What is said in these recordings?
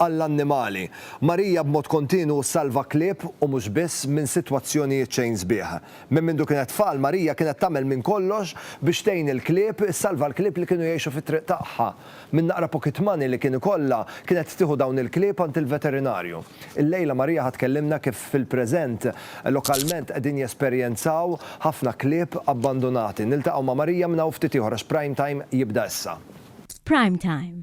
għall-annimali. Marija b'mod kontinwu ssalva klieb u mhux biss minn sitwazzjonijiet xejn sbieħ. Minn mindu kienet tfal, Marija kienet tagħmel minn kollox biex tgħin il-klieb, issalva l-klieb li kienu jgħixu fit-triq tagħha. Minn naqra pocket money li kien ikollha, kienet tieħu dawn il-klieb għand il-veterinarju. Illejla Marija ħa tkellimna kif fil-preżent, lokalment qegħdin jesperjenzaw ħafna klieb abbandunati. Niltaqgħu ma' Marija minn hawn ftit ieħor għax Prime Time jibda issa. Prime Time,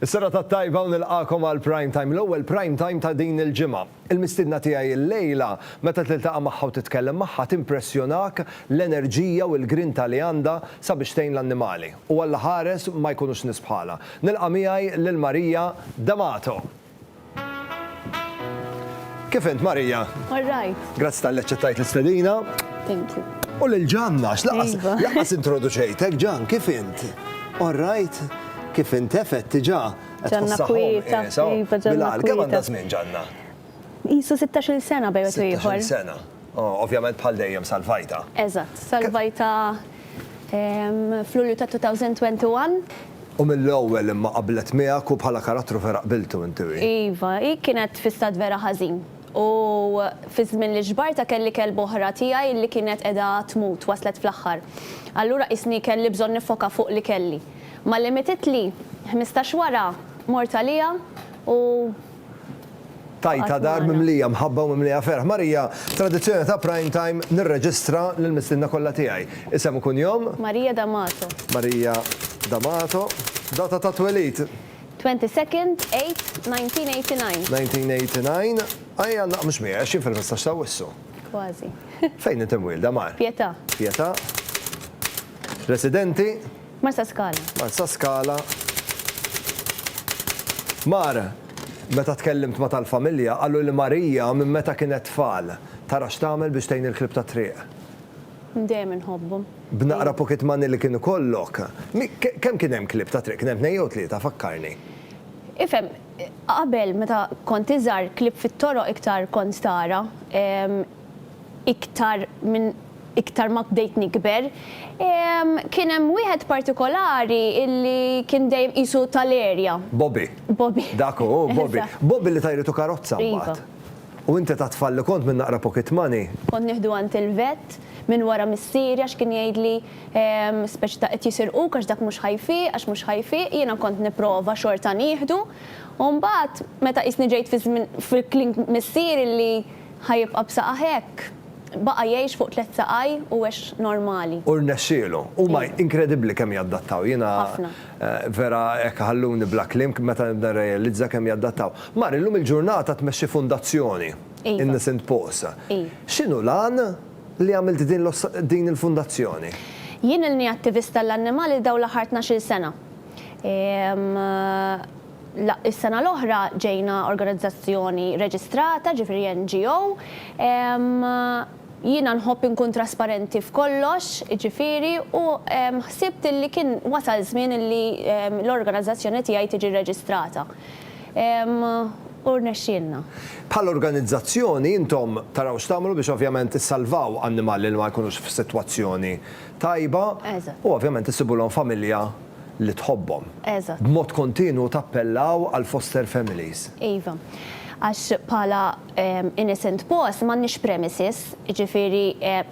Is-serata t-tajba u nilqagħkom għal Prime Time, l-ewwel Prime Time ta' din il-ġimgħa. Il-mistiedna tiegħi illejla, meta tiltaqa' magħha u titkellem magħha, timpressjonak l-enerġija u l-grinta li għandha sabiex tgħin l-annimali. U Alla ħares ma jkunux nies bħalha. Nilqa' miegħi lil Maria D'Amato. Kif int, Marija? All right. Grazzi tal-li ċettajt l-istedina. Thank you. U l-ġanna, x'laqas iva. laqas introduċejtek, ġan, kif int? All right. Kif int effett tiġa? Ġanna kwieta, eh, iva ġanna. Bilal, kemm għandha żmien ġanna? Isu 16 sena bejwet ieħor. 16 sena. Ovvjament bħal dejjem salvajtha. Eżatt, salvajtha f'Lulju ta' 2021. U mill-ewwel imma qablet miegħek u bħala karattru vera qbiltu inti u hi. Iva, hi kienet f'istat vera ħażin u fiż-żmien li ġbartha kelli kelba oħra tiegħi li kienet qiegħda tmut, waslet fl-aħħar. Allura qisni kelli bżonn niffoka fuq li kelli. Malli mietitli, ħmistax wara, mort għaliha u Tajta dar mimlija mħabba u mimlija ferħ. Marija, tradizzjoni ta' Prime Time nirreġistra lill-mistiedna kollha tiegħi. Isem u kunjom? Marija D'Amato. Marija D'Amato. Data ta' twelid? 22nd 8 1989. 1989. Ejja naqmx miegħi għax jien fil-15 ta' Awwissu. Kważi. Fejn int imwielda, Mar? Pietà. Pietà. Residenti? Marsaskala. Marsaskala. Mar, Meta tkellimt ma' tal-familja, qalu li Marija minn meta kienet tfal, tara x'tagħmel biex tgħin il-klieb tat-triq. Dejjem inħobbhom. B'naqra pocket money li kien ikollok, kemm kien hemm klieb tat-triq? Kien hemm tnejn jew tlieta, fakkarni. Ifhem, qabel meta kont iżgħar klieb fit-toroq iktar kont tara. iktar minn iktar ma bdejt nikber, kien hemm wieħed partikolari illi kien dejjem qisu tal-erja. Bobby. Bobby. Dak hu, Bobby. Bobby li ta jritu karozza mbagħad. Iva. U inti ta' tfal li kont minn naqra pocket money. Kont nieħdu għand il-vet minn wara missieri għax kien jgħidli speċi ta' qed jisirquk għax dak mhux ħa jfiq, għax mhux ħa jfiq, jiena kont nipprova xorta nieħdu. U mbagħad meta qisni ġejt fiż-żmien fil-kliem missieri li, Ħa jibqa' b'saqgħa hekk? Baqa' jgħix fuq tliet saqaj u għex normali. U rnexxielu. Huma inkredibbli kemm jadattaw. Jiena vera hekk iħalluni bla kliem meta nibda nirrealizza kemm jadattaw. Mar illum il-ġurnata tmexxi fundazzjoni, Innocent Paws. X'inhu l-għan li għamilt din il-fundazzjoni? Jien ilni attivist għall-annimali dawn l-aħħar tnax-il sena. Is-sena l-oħra ġejna organizzazzjoni reġistrata, ġifieri NGO. Jiena nħobb inkun trasparenti f'kollox, jiġifieri, u ħsibt illi kien wasal żmien illi l-organizzazzjoni tiegħi tiġi rreġistrata. U rnexxielna. Bħala organizzazzjoni, intom taraw x'tagħmlu biex ovvjament issalvaw annimali li ma jkunux f'sitwazzjoni tajba u ovvjament issibulhom familja li tħobbhom. Eżatt. B'mod kontinwu tappellaw għal foster families. Iva. Għax bħala innocent boss m'għandniex premises, jiġifieri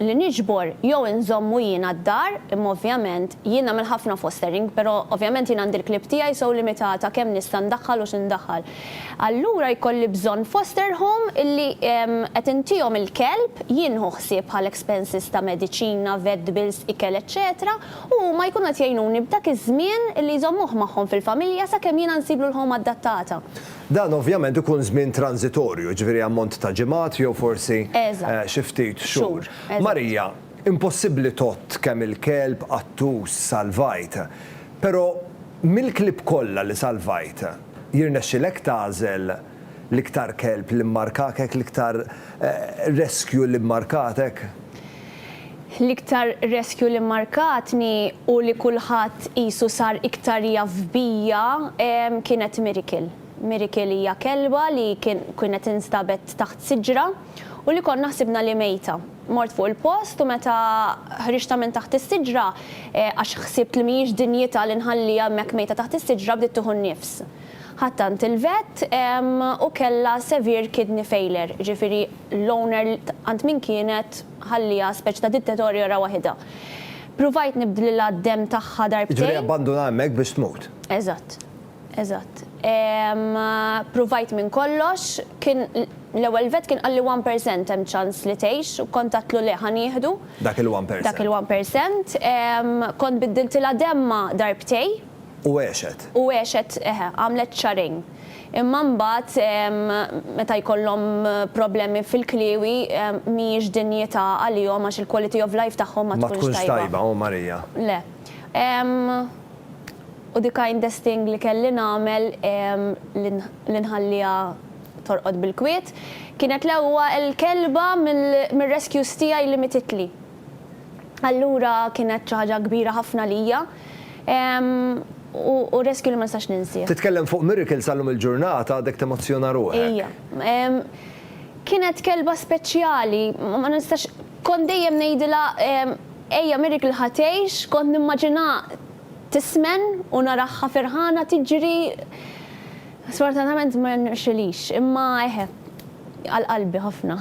li niġbor jew inżommu jiena d-dar, imma ovvjament jien nagħmel ħafna fostering, però ovvjament jien għandi l-clip tiegħi so limitata kemm nista' ndaħħal u x'indaħħal. Allura jkolli bżonn foster home illi qed intihom il-kelb, jien nieħu ħsieb bħal expenses ta' mediċina, vet bills, ikel eċċetera u huma jkunu qed jgħinuni b'dak iż-żmien li jżommuh magħhom fil-familja sakemm jiena nsiblu l-home addattata. Dan ovvjament ikun żmien tranżitorju, jiġifieri ammont ta' ġimgħat jew forsi xi ftit xhur. Marija, Impossibbli tgħodd kemm il-kelb, qattus, salvajt. Però mill-klieb kollha li salvajt, jirnexxilek tagħżel l-iktar kelb li mmarkakek, l-iktar rescue li mmarkatek? L-iktar reskju li mmarkatni u li kulħadd qisu sar iktar jaf bija kienet Miracle. Miracle hija kelba li kienet instabet taħt siġra u li konna ħsibna li mejta. Mort fuq il-post u meta ħriġtha minn taħt is-siġra għax ħsibt li mhijiex dinjità li nħalliha hemmhekk mejta taħt is-siġra bdiet tieħu n-nifs. Ħadt tant il-vett u kellha severe kidney failure, jiġifieri l-owner tant min kienet ħalliha speċi ta' tittetorjora waħidha. Pruvajt nibdlilha d-demm tagħha darbtejn. Jiġifieri abbandunha hemmhekk biex tmut. Eżatt. Eżatt. Pruvajt minn kollox, kien l-ewwel vett kien qalli one percent hemm ċans li tgħix u kont għedtlu le ħa nieħdu. Dak il-one percent. Dak il-one percent. Kont biddiltilha demmha darbtejn. U għexet. U għexet, eħe, għamlet xahrejn. Imma mbagħad meta jkollhom problemi fil-kliewi mhijiex dinjità għalihom għax il-quality of life tagħhom ma tkunx tajba. Ma tkunx tajba, oh Marija. Le. U the kindest thing li kelli nagħmel li nħalliha torqod bil-kwiet kienet l-ewwel kelba mir-rescues tiegħi li mititli. Allura kienet xi ħaġa kbira ħafna għalija u rescue li ma nistax ninsieh. Titkellem fuq miracle sal-lum il-ġurnata għadek temozzjona ruħek. Ija. Kienet kelba speċjali, ma nistax, kont dejjem ngħidilha ejja miracle ħa tgħix, kont nimmaġinha tismen u naraha ferħana tiġri, sfortunatament ma rnexxilix, imma eħe, għal qalbi ħafna.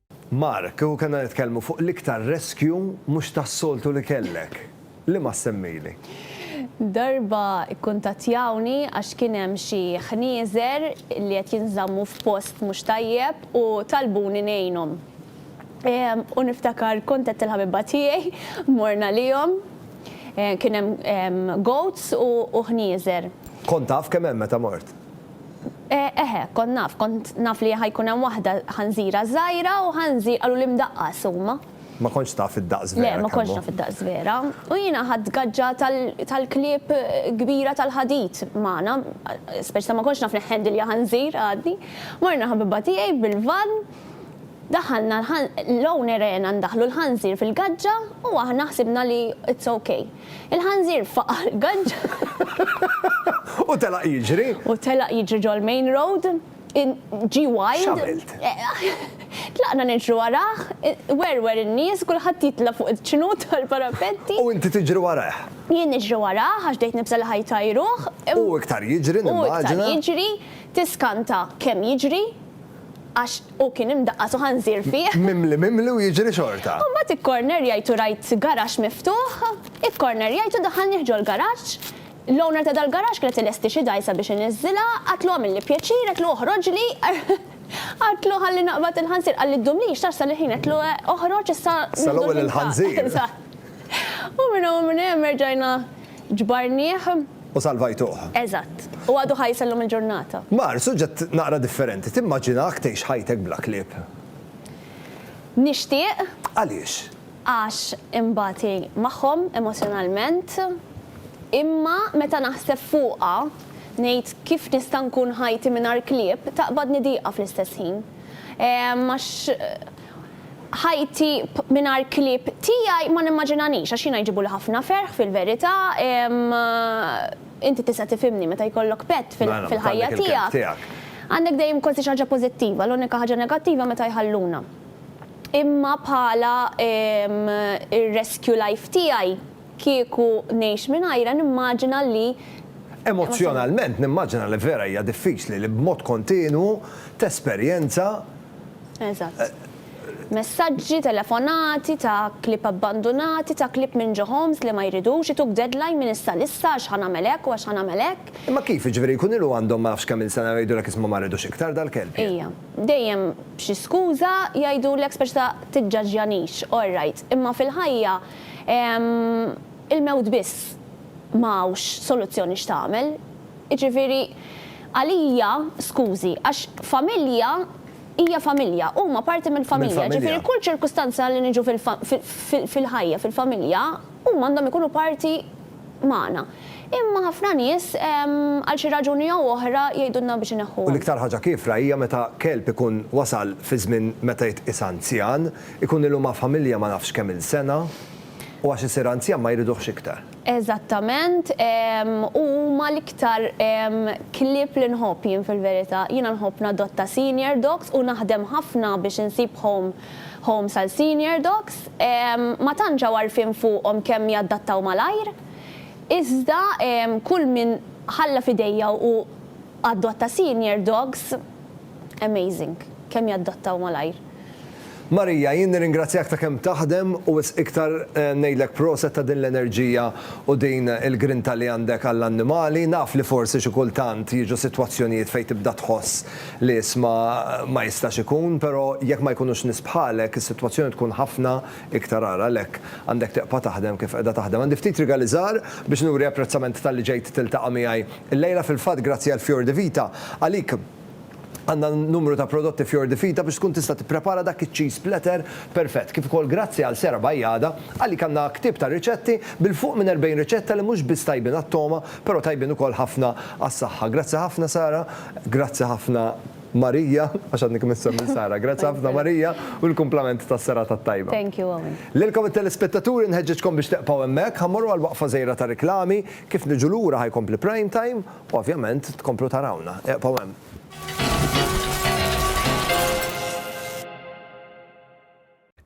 Mark, kieku kellna nitkellmu fuq l-iktar rescue mhux tas-soltu li kellek, liema ssemmili? Darba kkuntattjawni għax kien hemm xi ħnieżer li qed jinżammu f'post mhux tajjeb u talbuni ngħinhom. U niftakar kont għedt il-ħabibba tiegħi mmorna għalihom. Kien hemm goats u ħnieżer. Kont taf kemm hemm meta mort? Eh, eħe, kont naf, kont naf li ħa jkun hemm waħda ħanżira żgħira u ħanżir qaluli mdaqqas huma. Ma kontx taf id-daqs vera, Le, ma kontx naf id-daqs vera. U jiena ħadt gaġġa tal-klieb kbira tal-ħadid magħna, speċi ta' ma kontx naf nihhandilja ħanżir għadni. Morna ħabibha tiegħi bil-vann, daħalna l-own erena ndaħħlu l-ħanżir fil-gaġġa u aħna ħsibna li it's ok. Il-ħanżir faqa' l-gaġġa. U telaq jiġri. U telaq jiġri ġol-main road. Ġie wild. X'għamilt? Tlaqna niġru warah, werwer in-nies, kulħadd jitla' fuq iċ-ċnut tal-parapetti. U inti tiġri warah? Jien niġri warah għax bdejt nibża' li ħa jtajruh. U iktar jiġri, nimmaġina. U iktar jiġri, tiskanta kemm jiġri għax Hu kien imdaqqas u ħanżir fih. Mimli mimli u jiġri xorta. U mbagħad ikkornerjajt u rajt garaxx miftuħ. Ikkornerjajt u daħħalnih ġol-garaxx. L-owner ta' dal-garaxx kienet tilesti xi dgħajsa biex iniżżilha. Għedtlu għamilli pjaċir, għedtlu oħroġli. Għedtlu ħalli naqbad il-ħanżir. Qalli ddumlix, tarax sal-ilħin, għedtlu oħroġ issa nieħdu l-ħinżar. Sal-ewwel il-ħanżir. U minn hawn u minn hemm erġajna ġbarnih. U salvajtuh. Eżatt. U għadu ħaj sal-lum il-ġurnata. Mar, suġġett naqra differenti. Timmaġinahk tgħix ħajtek bla klieb? Nixtieq. Għaliex? Għax inbati magħhom emozjonalment, imma meta naħseb fuqha, ngħid kif nista' nkun ħajti mingħajr klieb, taqbadni diqa fl-istess ħin. Għax. Ħajti mingħajr klieb tiegħi ma nimmaġinanix għax jiena jġibuli ħafna ferħ fil-verità. Inti tista' tifhimni meta jkollok pet fil-ħajja tiegħek. Għandek dejjem kważi xi ħaġa pożittiva, l-unika ħaġa negattiva meta jħalluna. Imma bħala r-rescue life tiegħi kieku ngħix mingħajrha nimmaġina li. Emozzjonalment nimmaġina li vera hija diffiċli li b'mod kontinwu tesperjenza. Eżatt. Messaġġi, telefonati, ta' klieb abbandunati, ta' klieb minn ġo homes li ma jridux, ituk deadline minn issa għal issa għax ħa nagħmel hekk u għax ħa nagħmel hekk. Imma kif, jiġifieri jkun ilu għandhom ma nafx kemm il sena u jgħidulek isma' ma rridux iktar dal-kelb jien. Ija. Dejjem b'xi skuża jgħidulek speċi ta' tiġġaġġjanix, all right, imma fil-ħajja il-mewt biss ma hawnx soluzzjoni x'tagħmel. Jiġifieri. Għalija, skużi, għax familja hija familja, huma parti mill-familja, ġifieri kull ċirkustanza li niġu fil-ħajja, fil-familja, huma għandhom ikunu parti magħna. Imma ħafna nies, għal xi raġuni jew oħra, jgħidulna biex ineħħuhom. U l-iktar ħaġa kiefra hija meta kelb ikun wasal fi żmien meta jitqies anzjan, ikun ilu ma' familja ma nafx kemm-il sena, u għax isir anzjan ma jriduhx iktar. Eżattament, u huma l-iktar klieb li nħobb jien fil-verità. Jiena nħobb nadotta senior dogs u naħdem ħafna biex insib home homes għal senior dogs. Ma tantx hawn għarfien fuqhom kemm jadattaw malajr. Iżda kull min ħalla f'idejja u adotta senior dogs, amazing, kemm jadattaw malajr. Marija, jien nirringrazzjak ta' kemm taħdem u wisq iktar ngħidlek proset ta' din l-enerġija u din il-grinta li għandek għall-annimali. Naf li forsi xi kultant jiġu sitwazzjonijiet fejn tibda tħoss li isma' ma jistax ikun, però jekk ma jkunux nies bħalek, is-sitwazzjoni tkun ħafna iktar agħar. Għalhekk, għandek tibqa' taħdem kif qiegħda taħdem. Għandi ftit rigali żgħar biex nuri apprezzament talli ġejt tiltaqa' miegħi llejla. Fil-fatt, grazzi għall-Fior di Vita, għalik, Għandna numru ta' prodotti f'Your Divita biex tkun tista' tipprepara dak iċ-cheese platter perfett, kif ukoll grazzi għal Sera Bajada, għalik għandna ktieb ta' riċetti bil fuq minn 40 riċetta li mhux biss tajbin għat-togħma, però tajbin ukoll ħafna għas-saħħa. Grazzi ħafna Sara, grazzi ħafna Marija, għax għadni kemm insemmi lil Sara, grazzi ħafna Marija u l-kumplament tas-serata t-tajba. Thank you Owen. Lilkom it-telespettaturi nħeġġiġkom biex tebqgħu hemmhekk, ħa mmorru għal waqfa żgħira ta' riklami, kif niġu lura ħa jkompli Prime Time. Ovvjament tkomplu tarawna, eqbgħu hemm.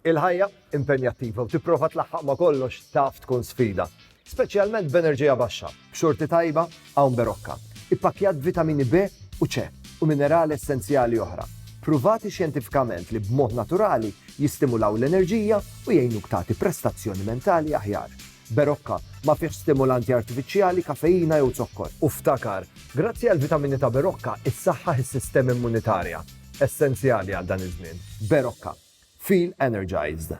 Il-ħajja impenjattiva u tipprova tlaħħaq ma' kollox taf tkun sfida, speċjalment b'enerġija baxxa, b'xorti tajba hawn Berocca, ippakkjat b'vitamini B u C u minerali essenzjali oħra, pruvati xjentifikament li b'mod naturali jistimulaw l-enerġija u jgħinuk tagħti prestazzjoni mentali aħjar. Berocca, ma fihx stimulanti artifiċjali, kafeina jew zokkor. U ftakar, grazzi għall-vitamini ta' Berocca issaħħaħ is-sistema immunitarja, essenzjali għal dan iż-żmien. Berocca. Feel energized.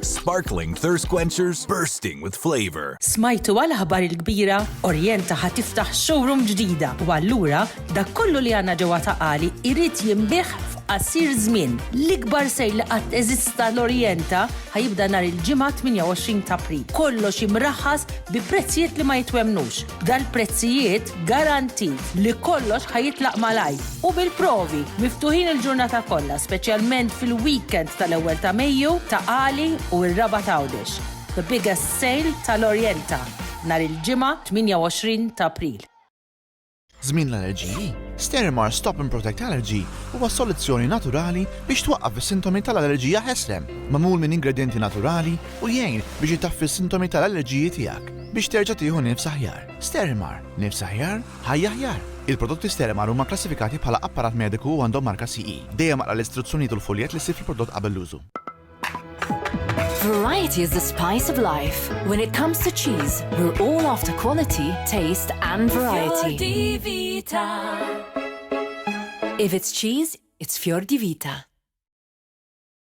Sparkling thirst quenchers bursting with flavor. Smajtu għal aħbar il-kbira, Orjenta ħa tiftaħ showroom ġdida u allura dak kollu li għandna ġewwa ta' Qali jrid jinbih f'qasir żmien. L-ikbar sejl li qatt eżista l-Orjenta ħa jibda nhar il-Ġimgħa 28 t'April. Kollox imraħħas bi prezzijiet li ma jitwemmnux. Dal-prezzijiet garantit li kollox ħa jitlaq malajr u bil-provi miftuħin il-ġurnata kollha speċjalment fil-weekend tal-ewwel ta' Mejju ta' Qali u r-Raba' t'Għawdex. The biggest sale tal-Orienta nhar il-Ġimgħa 28 t'April. Żmien l-allerġiji, Sterimar Stop and Protect Allergy huwa soluzzjoni naturali biex twaqqaf is-sintomi tal-allerġija Heslem, magħmul minn ingredjenti naturali u jgħin biex itaffi s-sintomi tal-allerġiji tiegħek. biex terġa' tieħu nifs aħjar. Sterimar, nifs aħjar, ħajja aħjar! Il-prodotti Sterimar huma kklassifikati bħala apparat mediku u għandhom marka CE. Dejjem aqra l-istruzzjonijiet u l-fuljett li ssib fil-prodott qabel l-użu. Variety is the spice of life. When it comes to cheese, we're all after quality, taste and variety. If it's cheese, it's Fior di Vita.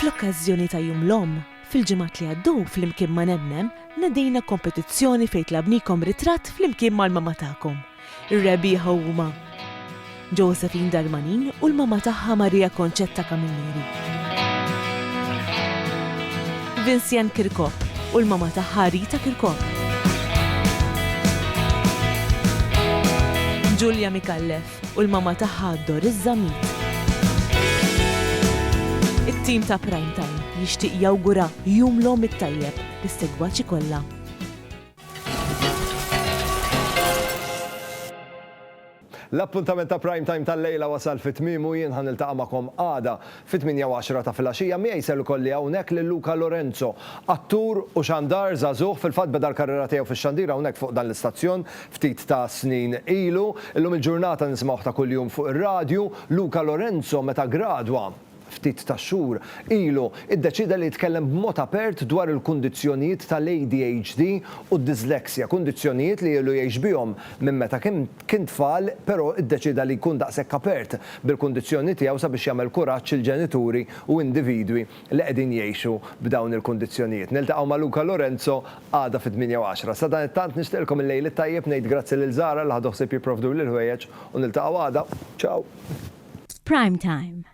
Fl-okkażjoni ta' Jum l-Omm, fil-ġimgħat li għaddew flimkien ma' Nemmem nedejna kompetizzjoni fejn tlabnikom ritratt flimkien mal-mama tagħkom. Ir-rebbieħa huma Josephine Darmanin u l-mama tagħha Maria Concetta Camilleri. Vincian Kirkop u l-mama tagħha Rita Kirkop. Julia Micallef. u l-mama tagħha Doris Zammit. It-tim ta' Prime Time jixtieq jawgura Jum l-Omm it-Tajjeb lis-segwaċi kollha. L-appuntament ta' Prime Time tal-lejla wasal fi tmiemu, jien ħa niltaqa' magħkom għada. Fit-tmienja u għaxra ta' filgħaxija miegħi ser ikolli hawnhekk lil Luca Lorenzo, attur u xandar żagħżugħ, fil-fatt beda l-karriera tiegħu fix-xandir hawnhekk fuq dan l-istazzjon ftit ta' snin ilu. Illum il-ġurnata nisimgħuh ta' kuljum fuq ir-radju. Luca Lorenzo meta ggradwa, ftit ta' xhur ilu, iddeċieda li jitkellem b'mod apert dwar il-kundizzjonijiet tal-ADHD u d-dyslexia, kundizzjonijiet li ilu jgħix bihom minn meta kien Kien tfal, però iddeċieda li jkun daqshekk apert bil-kundizzjoni tiegħu sabiex jagħmel kuraġġ il-ġenituri u individwi li qegħdin jgħixu b'dawn il-kundizzjonijiet. Niltaqgħu ma' Luca Lorenzo għada fit-tmienja u għaxra. Sadanittant nixtieqilkom il-lejl it-tajjeb, ngħid grazzi lil Zara li ħadu ħsieb jipprovduli l-ħwejjeġ u niltaqgħu għada. Ciao! Prime Time.